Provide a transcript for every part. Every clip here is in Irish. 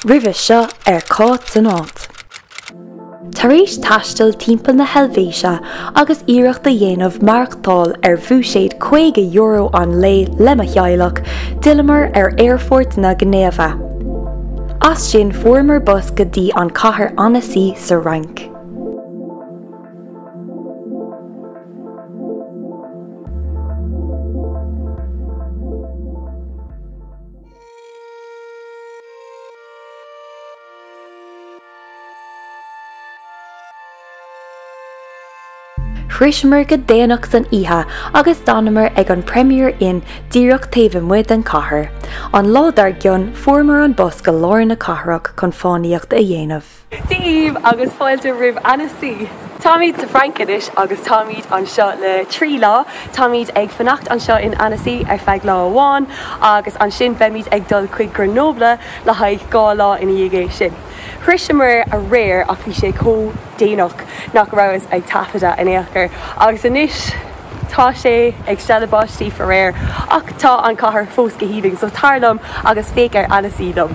Roimhe seo ar Cáit san Áit. Tar éis taisteal timpeall na hEilvéise agus iarracht a dhéanamh maireachtáil ar bhúiséad €50 an lae le mo theaghlach, d'fhilleamar ar Aerfort na Ginéive. As sin fuaireamar bus go dtí an cathair Annecy sa Fhrainc. Shroiseamar go déanach san oíche agus d'fhanamar ag an Premier Inn díreach taobh amuigh den chathair. An lá dár gcionn fuaireamar an bus go lár na cathrach chun fánaíocht a dhéanamh. Dia daoibh agus fáilte roimh Annecy. Táimid sa Fhrainc anois agus táimid anseo le trí lá. Táimid ag fanacht anseo in Annecy ar feadh lá amháin agus ansin beimid ag dul chuig Grenoble le haghaidh dhá lá ina dhiaidh sin. Shroiseamar aréir ach bhí sé chomh déanach nach rabhas ag taifeadadh in aon chor agus anois tá sé ag stealladh báistí faraor ach tá an chathair fós go hálainn so tar liom agus féach ar Annecy liom.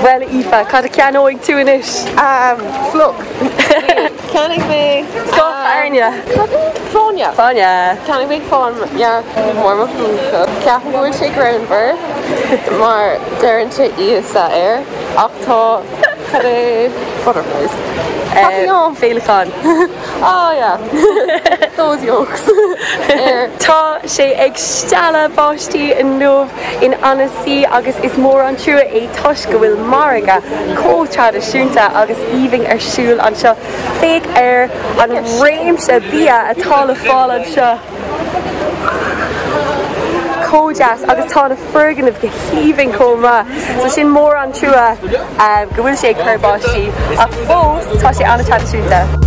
Bhuel, Aoife, cad a cheannóidh tú anois? Fliuch. Ceannaigh mé scoth airne. Cad é? Fáinne. Fáinne. Ceannaigh mé fáinne dhearg go mór mo mhúnla. Ceapaim go bhfuil sé gránna mar deireann sé Íosa air, ach tá, cad é, butterflies. Caithfidh liom féileacán. Tá sé ag stealladh báistí inniu in Annecy agus is mór an trua é toisc go bhfuil margadh chomh traidisiúnta agus aoibhinn ar siúl anseo. Féach ar an réimse bia atá le fáil anseo. chomh deas agus tá na foirgnimh go haoibhinn chomh maith so is mór an trua um, go bhfuil sé ag cur báistí ach fós tá sé ana-thraidisiúnta.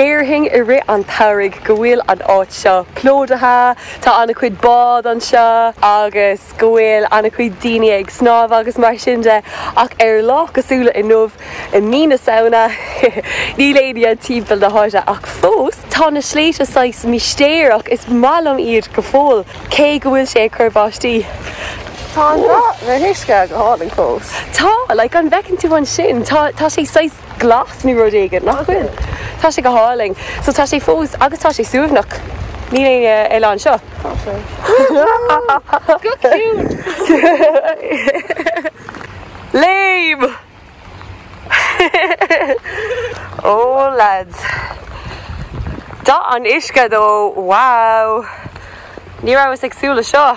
Déarfainn i rith an tsamhraidh go bhfuil an áit seo plódaithe, tá an-chuid bád anseo agus go bhfuil an-chuid daoine ag snámh agus mar sin de ach ar lá cosúil le inniu i mí na Samhna níl éinne timpeall na háite ach fós tá na sléibhte saghas mistéireach, is maith liom iad go fóill cé go bhfuil sé ag cur báistí. Tá an uisce go hálainn fós. Tá, like an bhfeiceann tú ansin, tá sé saghas. glas nó rud éigin, nach bhfuil? Tá sé go hálainn. So tá sé fós agus tá sé suaimhneach. Níl éinne eile anseo. Tá sé. Go cute. Léim! Ó lads. Dath an uisce, ó wow! Ní rabhas ag súil le seo.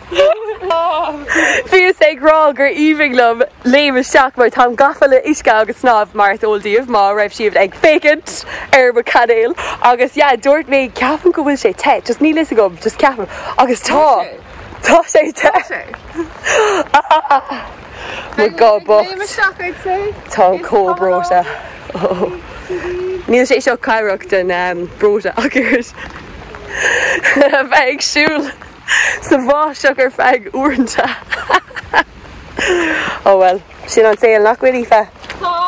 Bhíos ag rá gur aoibhinn liom léim isteach mar táim gafa le huisce agus snámh mar is eol daoibh má raibh sibh ag féachaint ar mo chainéal agus yeah dúirt mé ceapaim go bhfuil sé te just níl fhios agam just ceapaim agus tá tá sé te my god but táim comh breoite oh níl sé seo cabhrach don mbreoiteacht a bheith ag siúl. sa bháisteach ar feadh uaireanta. Ó bhuel, sin an saol nach bhfuil Aoife? Tá!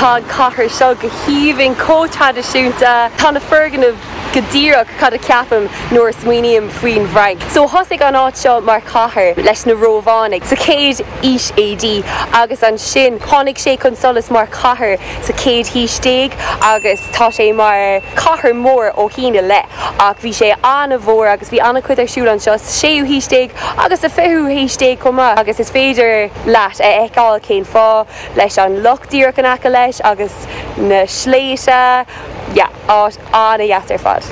Tá an chathair seo go haoibhinn, chomh traidisiúnta. Tá na foirgnimh go díreach cad a cheapaim nuair a smaoiním faoin bhFrainc. So thosaigh an áit seo mar chathair leis na Rómhánaigh sa chéad aois AD agus ansin tháinig sé chun solais mar chathair sa chéad haois déag agus tá sé mar chathair mhór ó shín i leith ach bhí sé an-mhór agus bhí an-chuid ar siúl anseo sa séú haois déag agus sa fichiú haois déag chomh maith agus is féidir leat a fheiceáil cén fáth leis an loch díreach in aice leis agus na sléibhte yeah áit an-deas ar fad.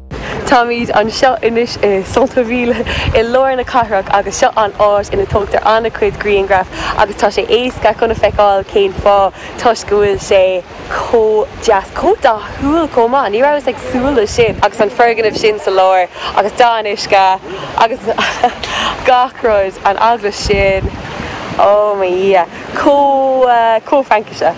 Táimid anseo anois i Centre-Ville i lár na cathrach agus seo an áit ina tógtar an-chuid grianghraf agus tá sé éasca chun a feiceáil cén fáth, toisc go bhfuil sé chomh deas, chomh dathúil chomh maith. Ní rabhas ag súil leis sin agus an foirgneamh sin sa lár agus dath an uisce agus gach rud, an eaglais sin, oh mo dhia, chomh, chomh Francach.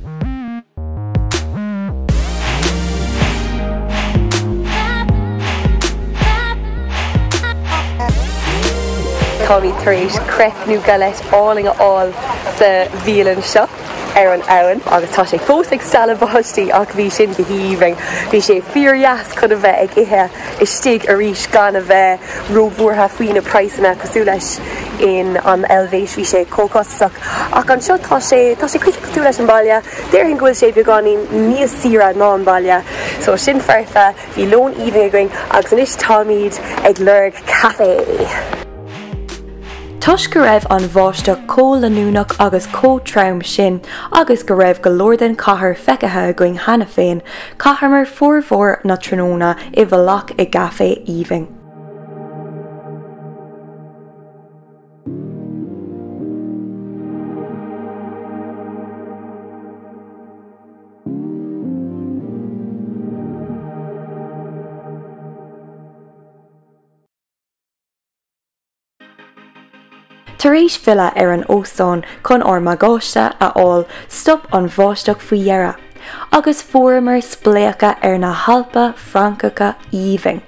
Táimid tar éis creip nó galette álainn a fháil sa bhialann seo ar an abhainn agus tá sé fós ag stealladh báistí ach bhí sin go haoibhinn. Bhí sé fíordheas chun a bheith ag ithe istigh arís gan a bheith róbhuartha faoi na praghsanna cosúil leis in an Eilvéis, bhí sé chomh costasach. Ach anseo tá sé, tá sé cuici. tú leis an mbaile, déarfainn go bhfuil sé beagáinín níos saoire ná an baile. So sin foirfe, bhí lón aoibhinn againn agus anois táimid ag lorg caifé. Toisc go raibh an bháisteach chomh leanúnach agus chomh trom sin agus go raibh go leor den chathair feicthe againn cheana féin, chaitheamar formhór na tráthnóna i bhfolach i gcaifé aoibhinn. Tar éis filleadh ar an óstán chun ár mbagáiste a fháil, stop an bháisteach faoi dheireadh, agus fuaireamar spléachadh ar na hAlpa Francacha aoibhinn.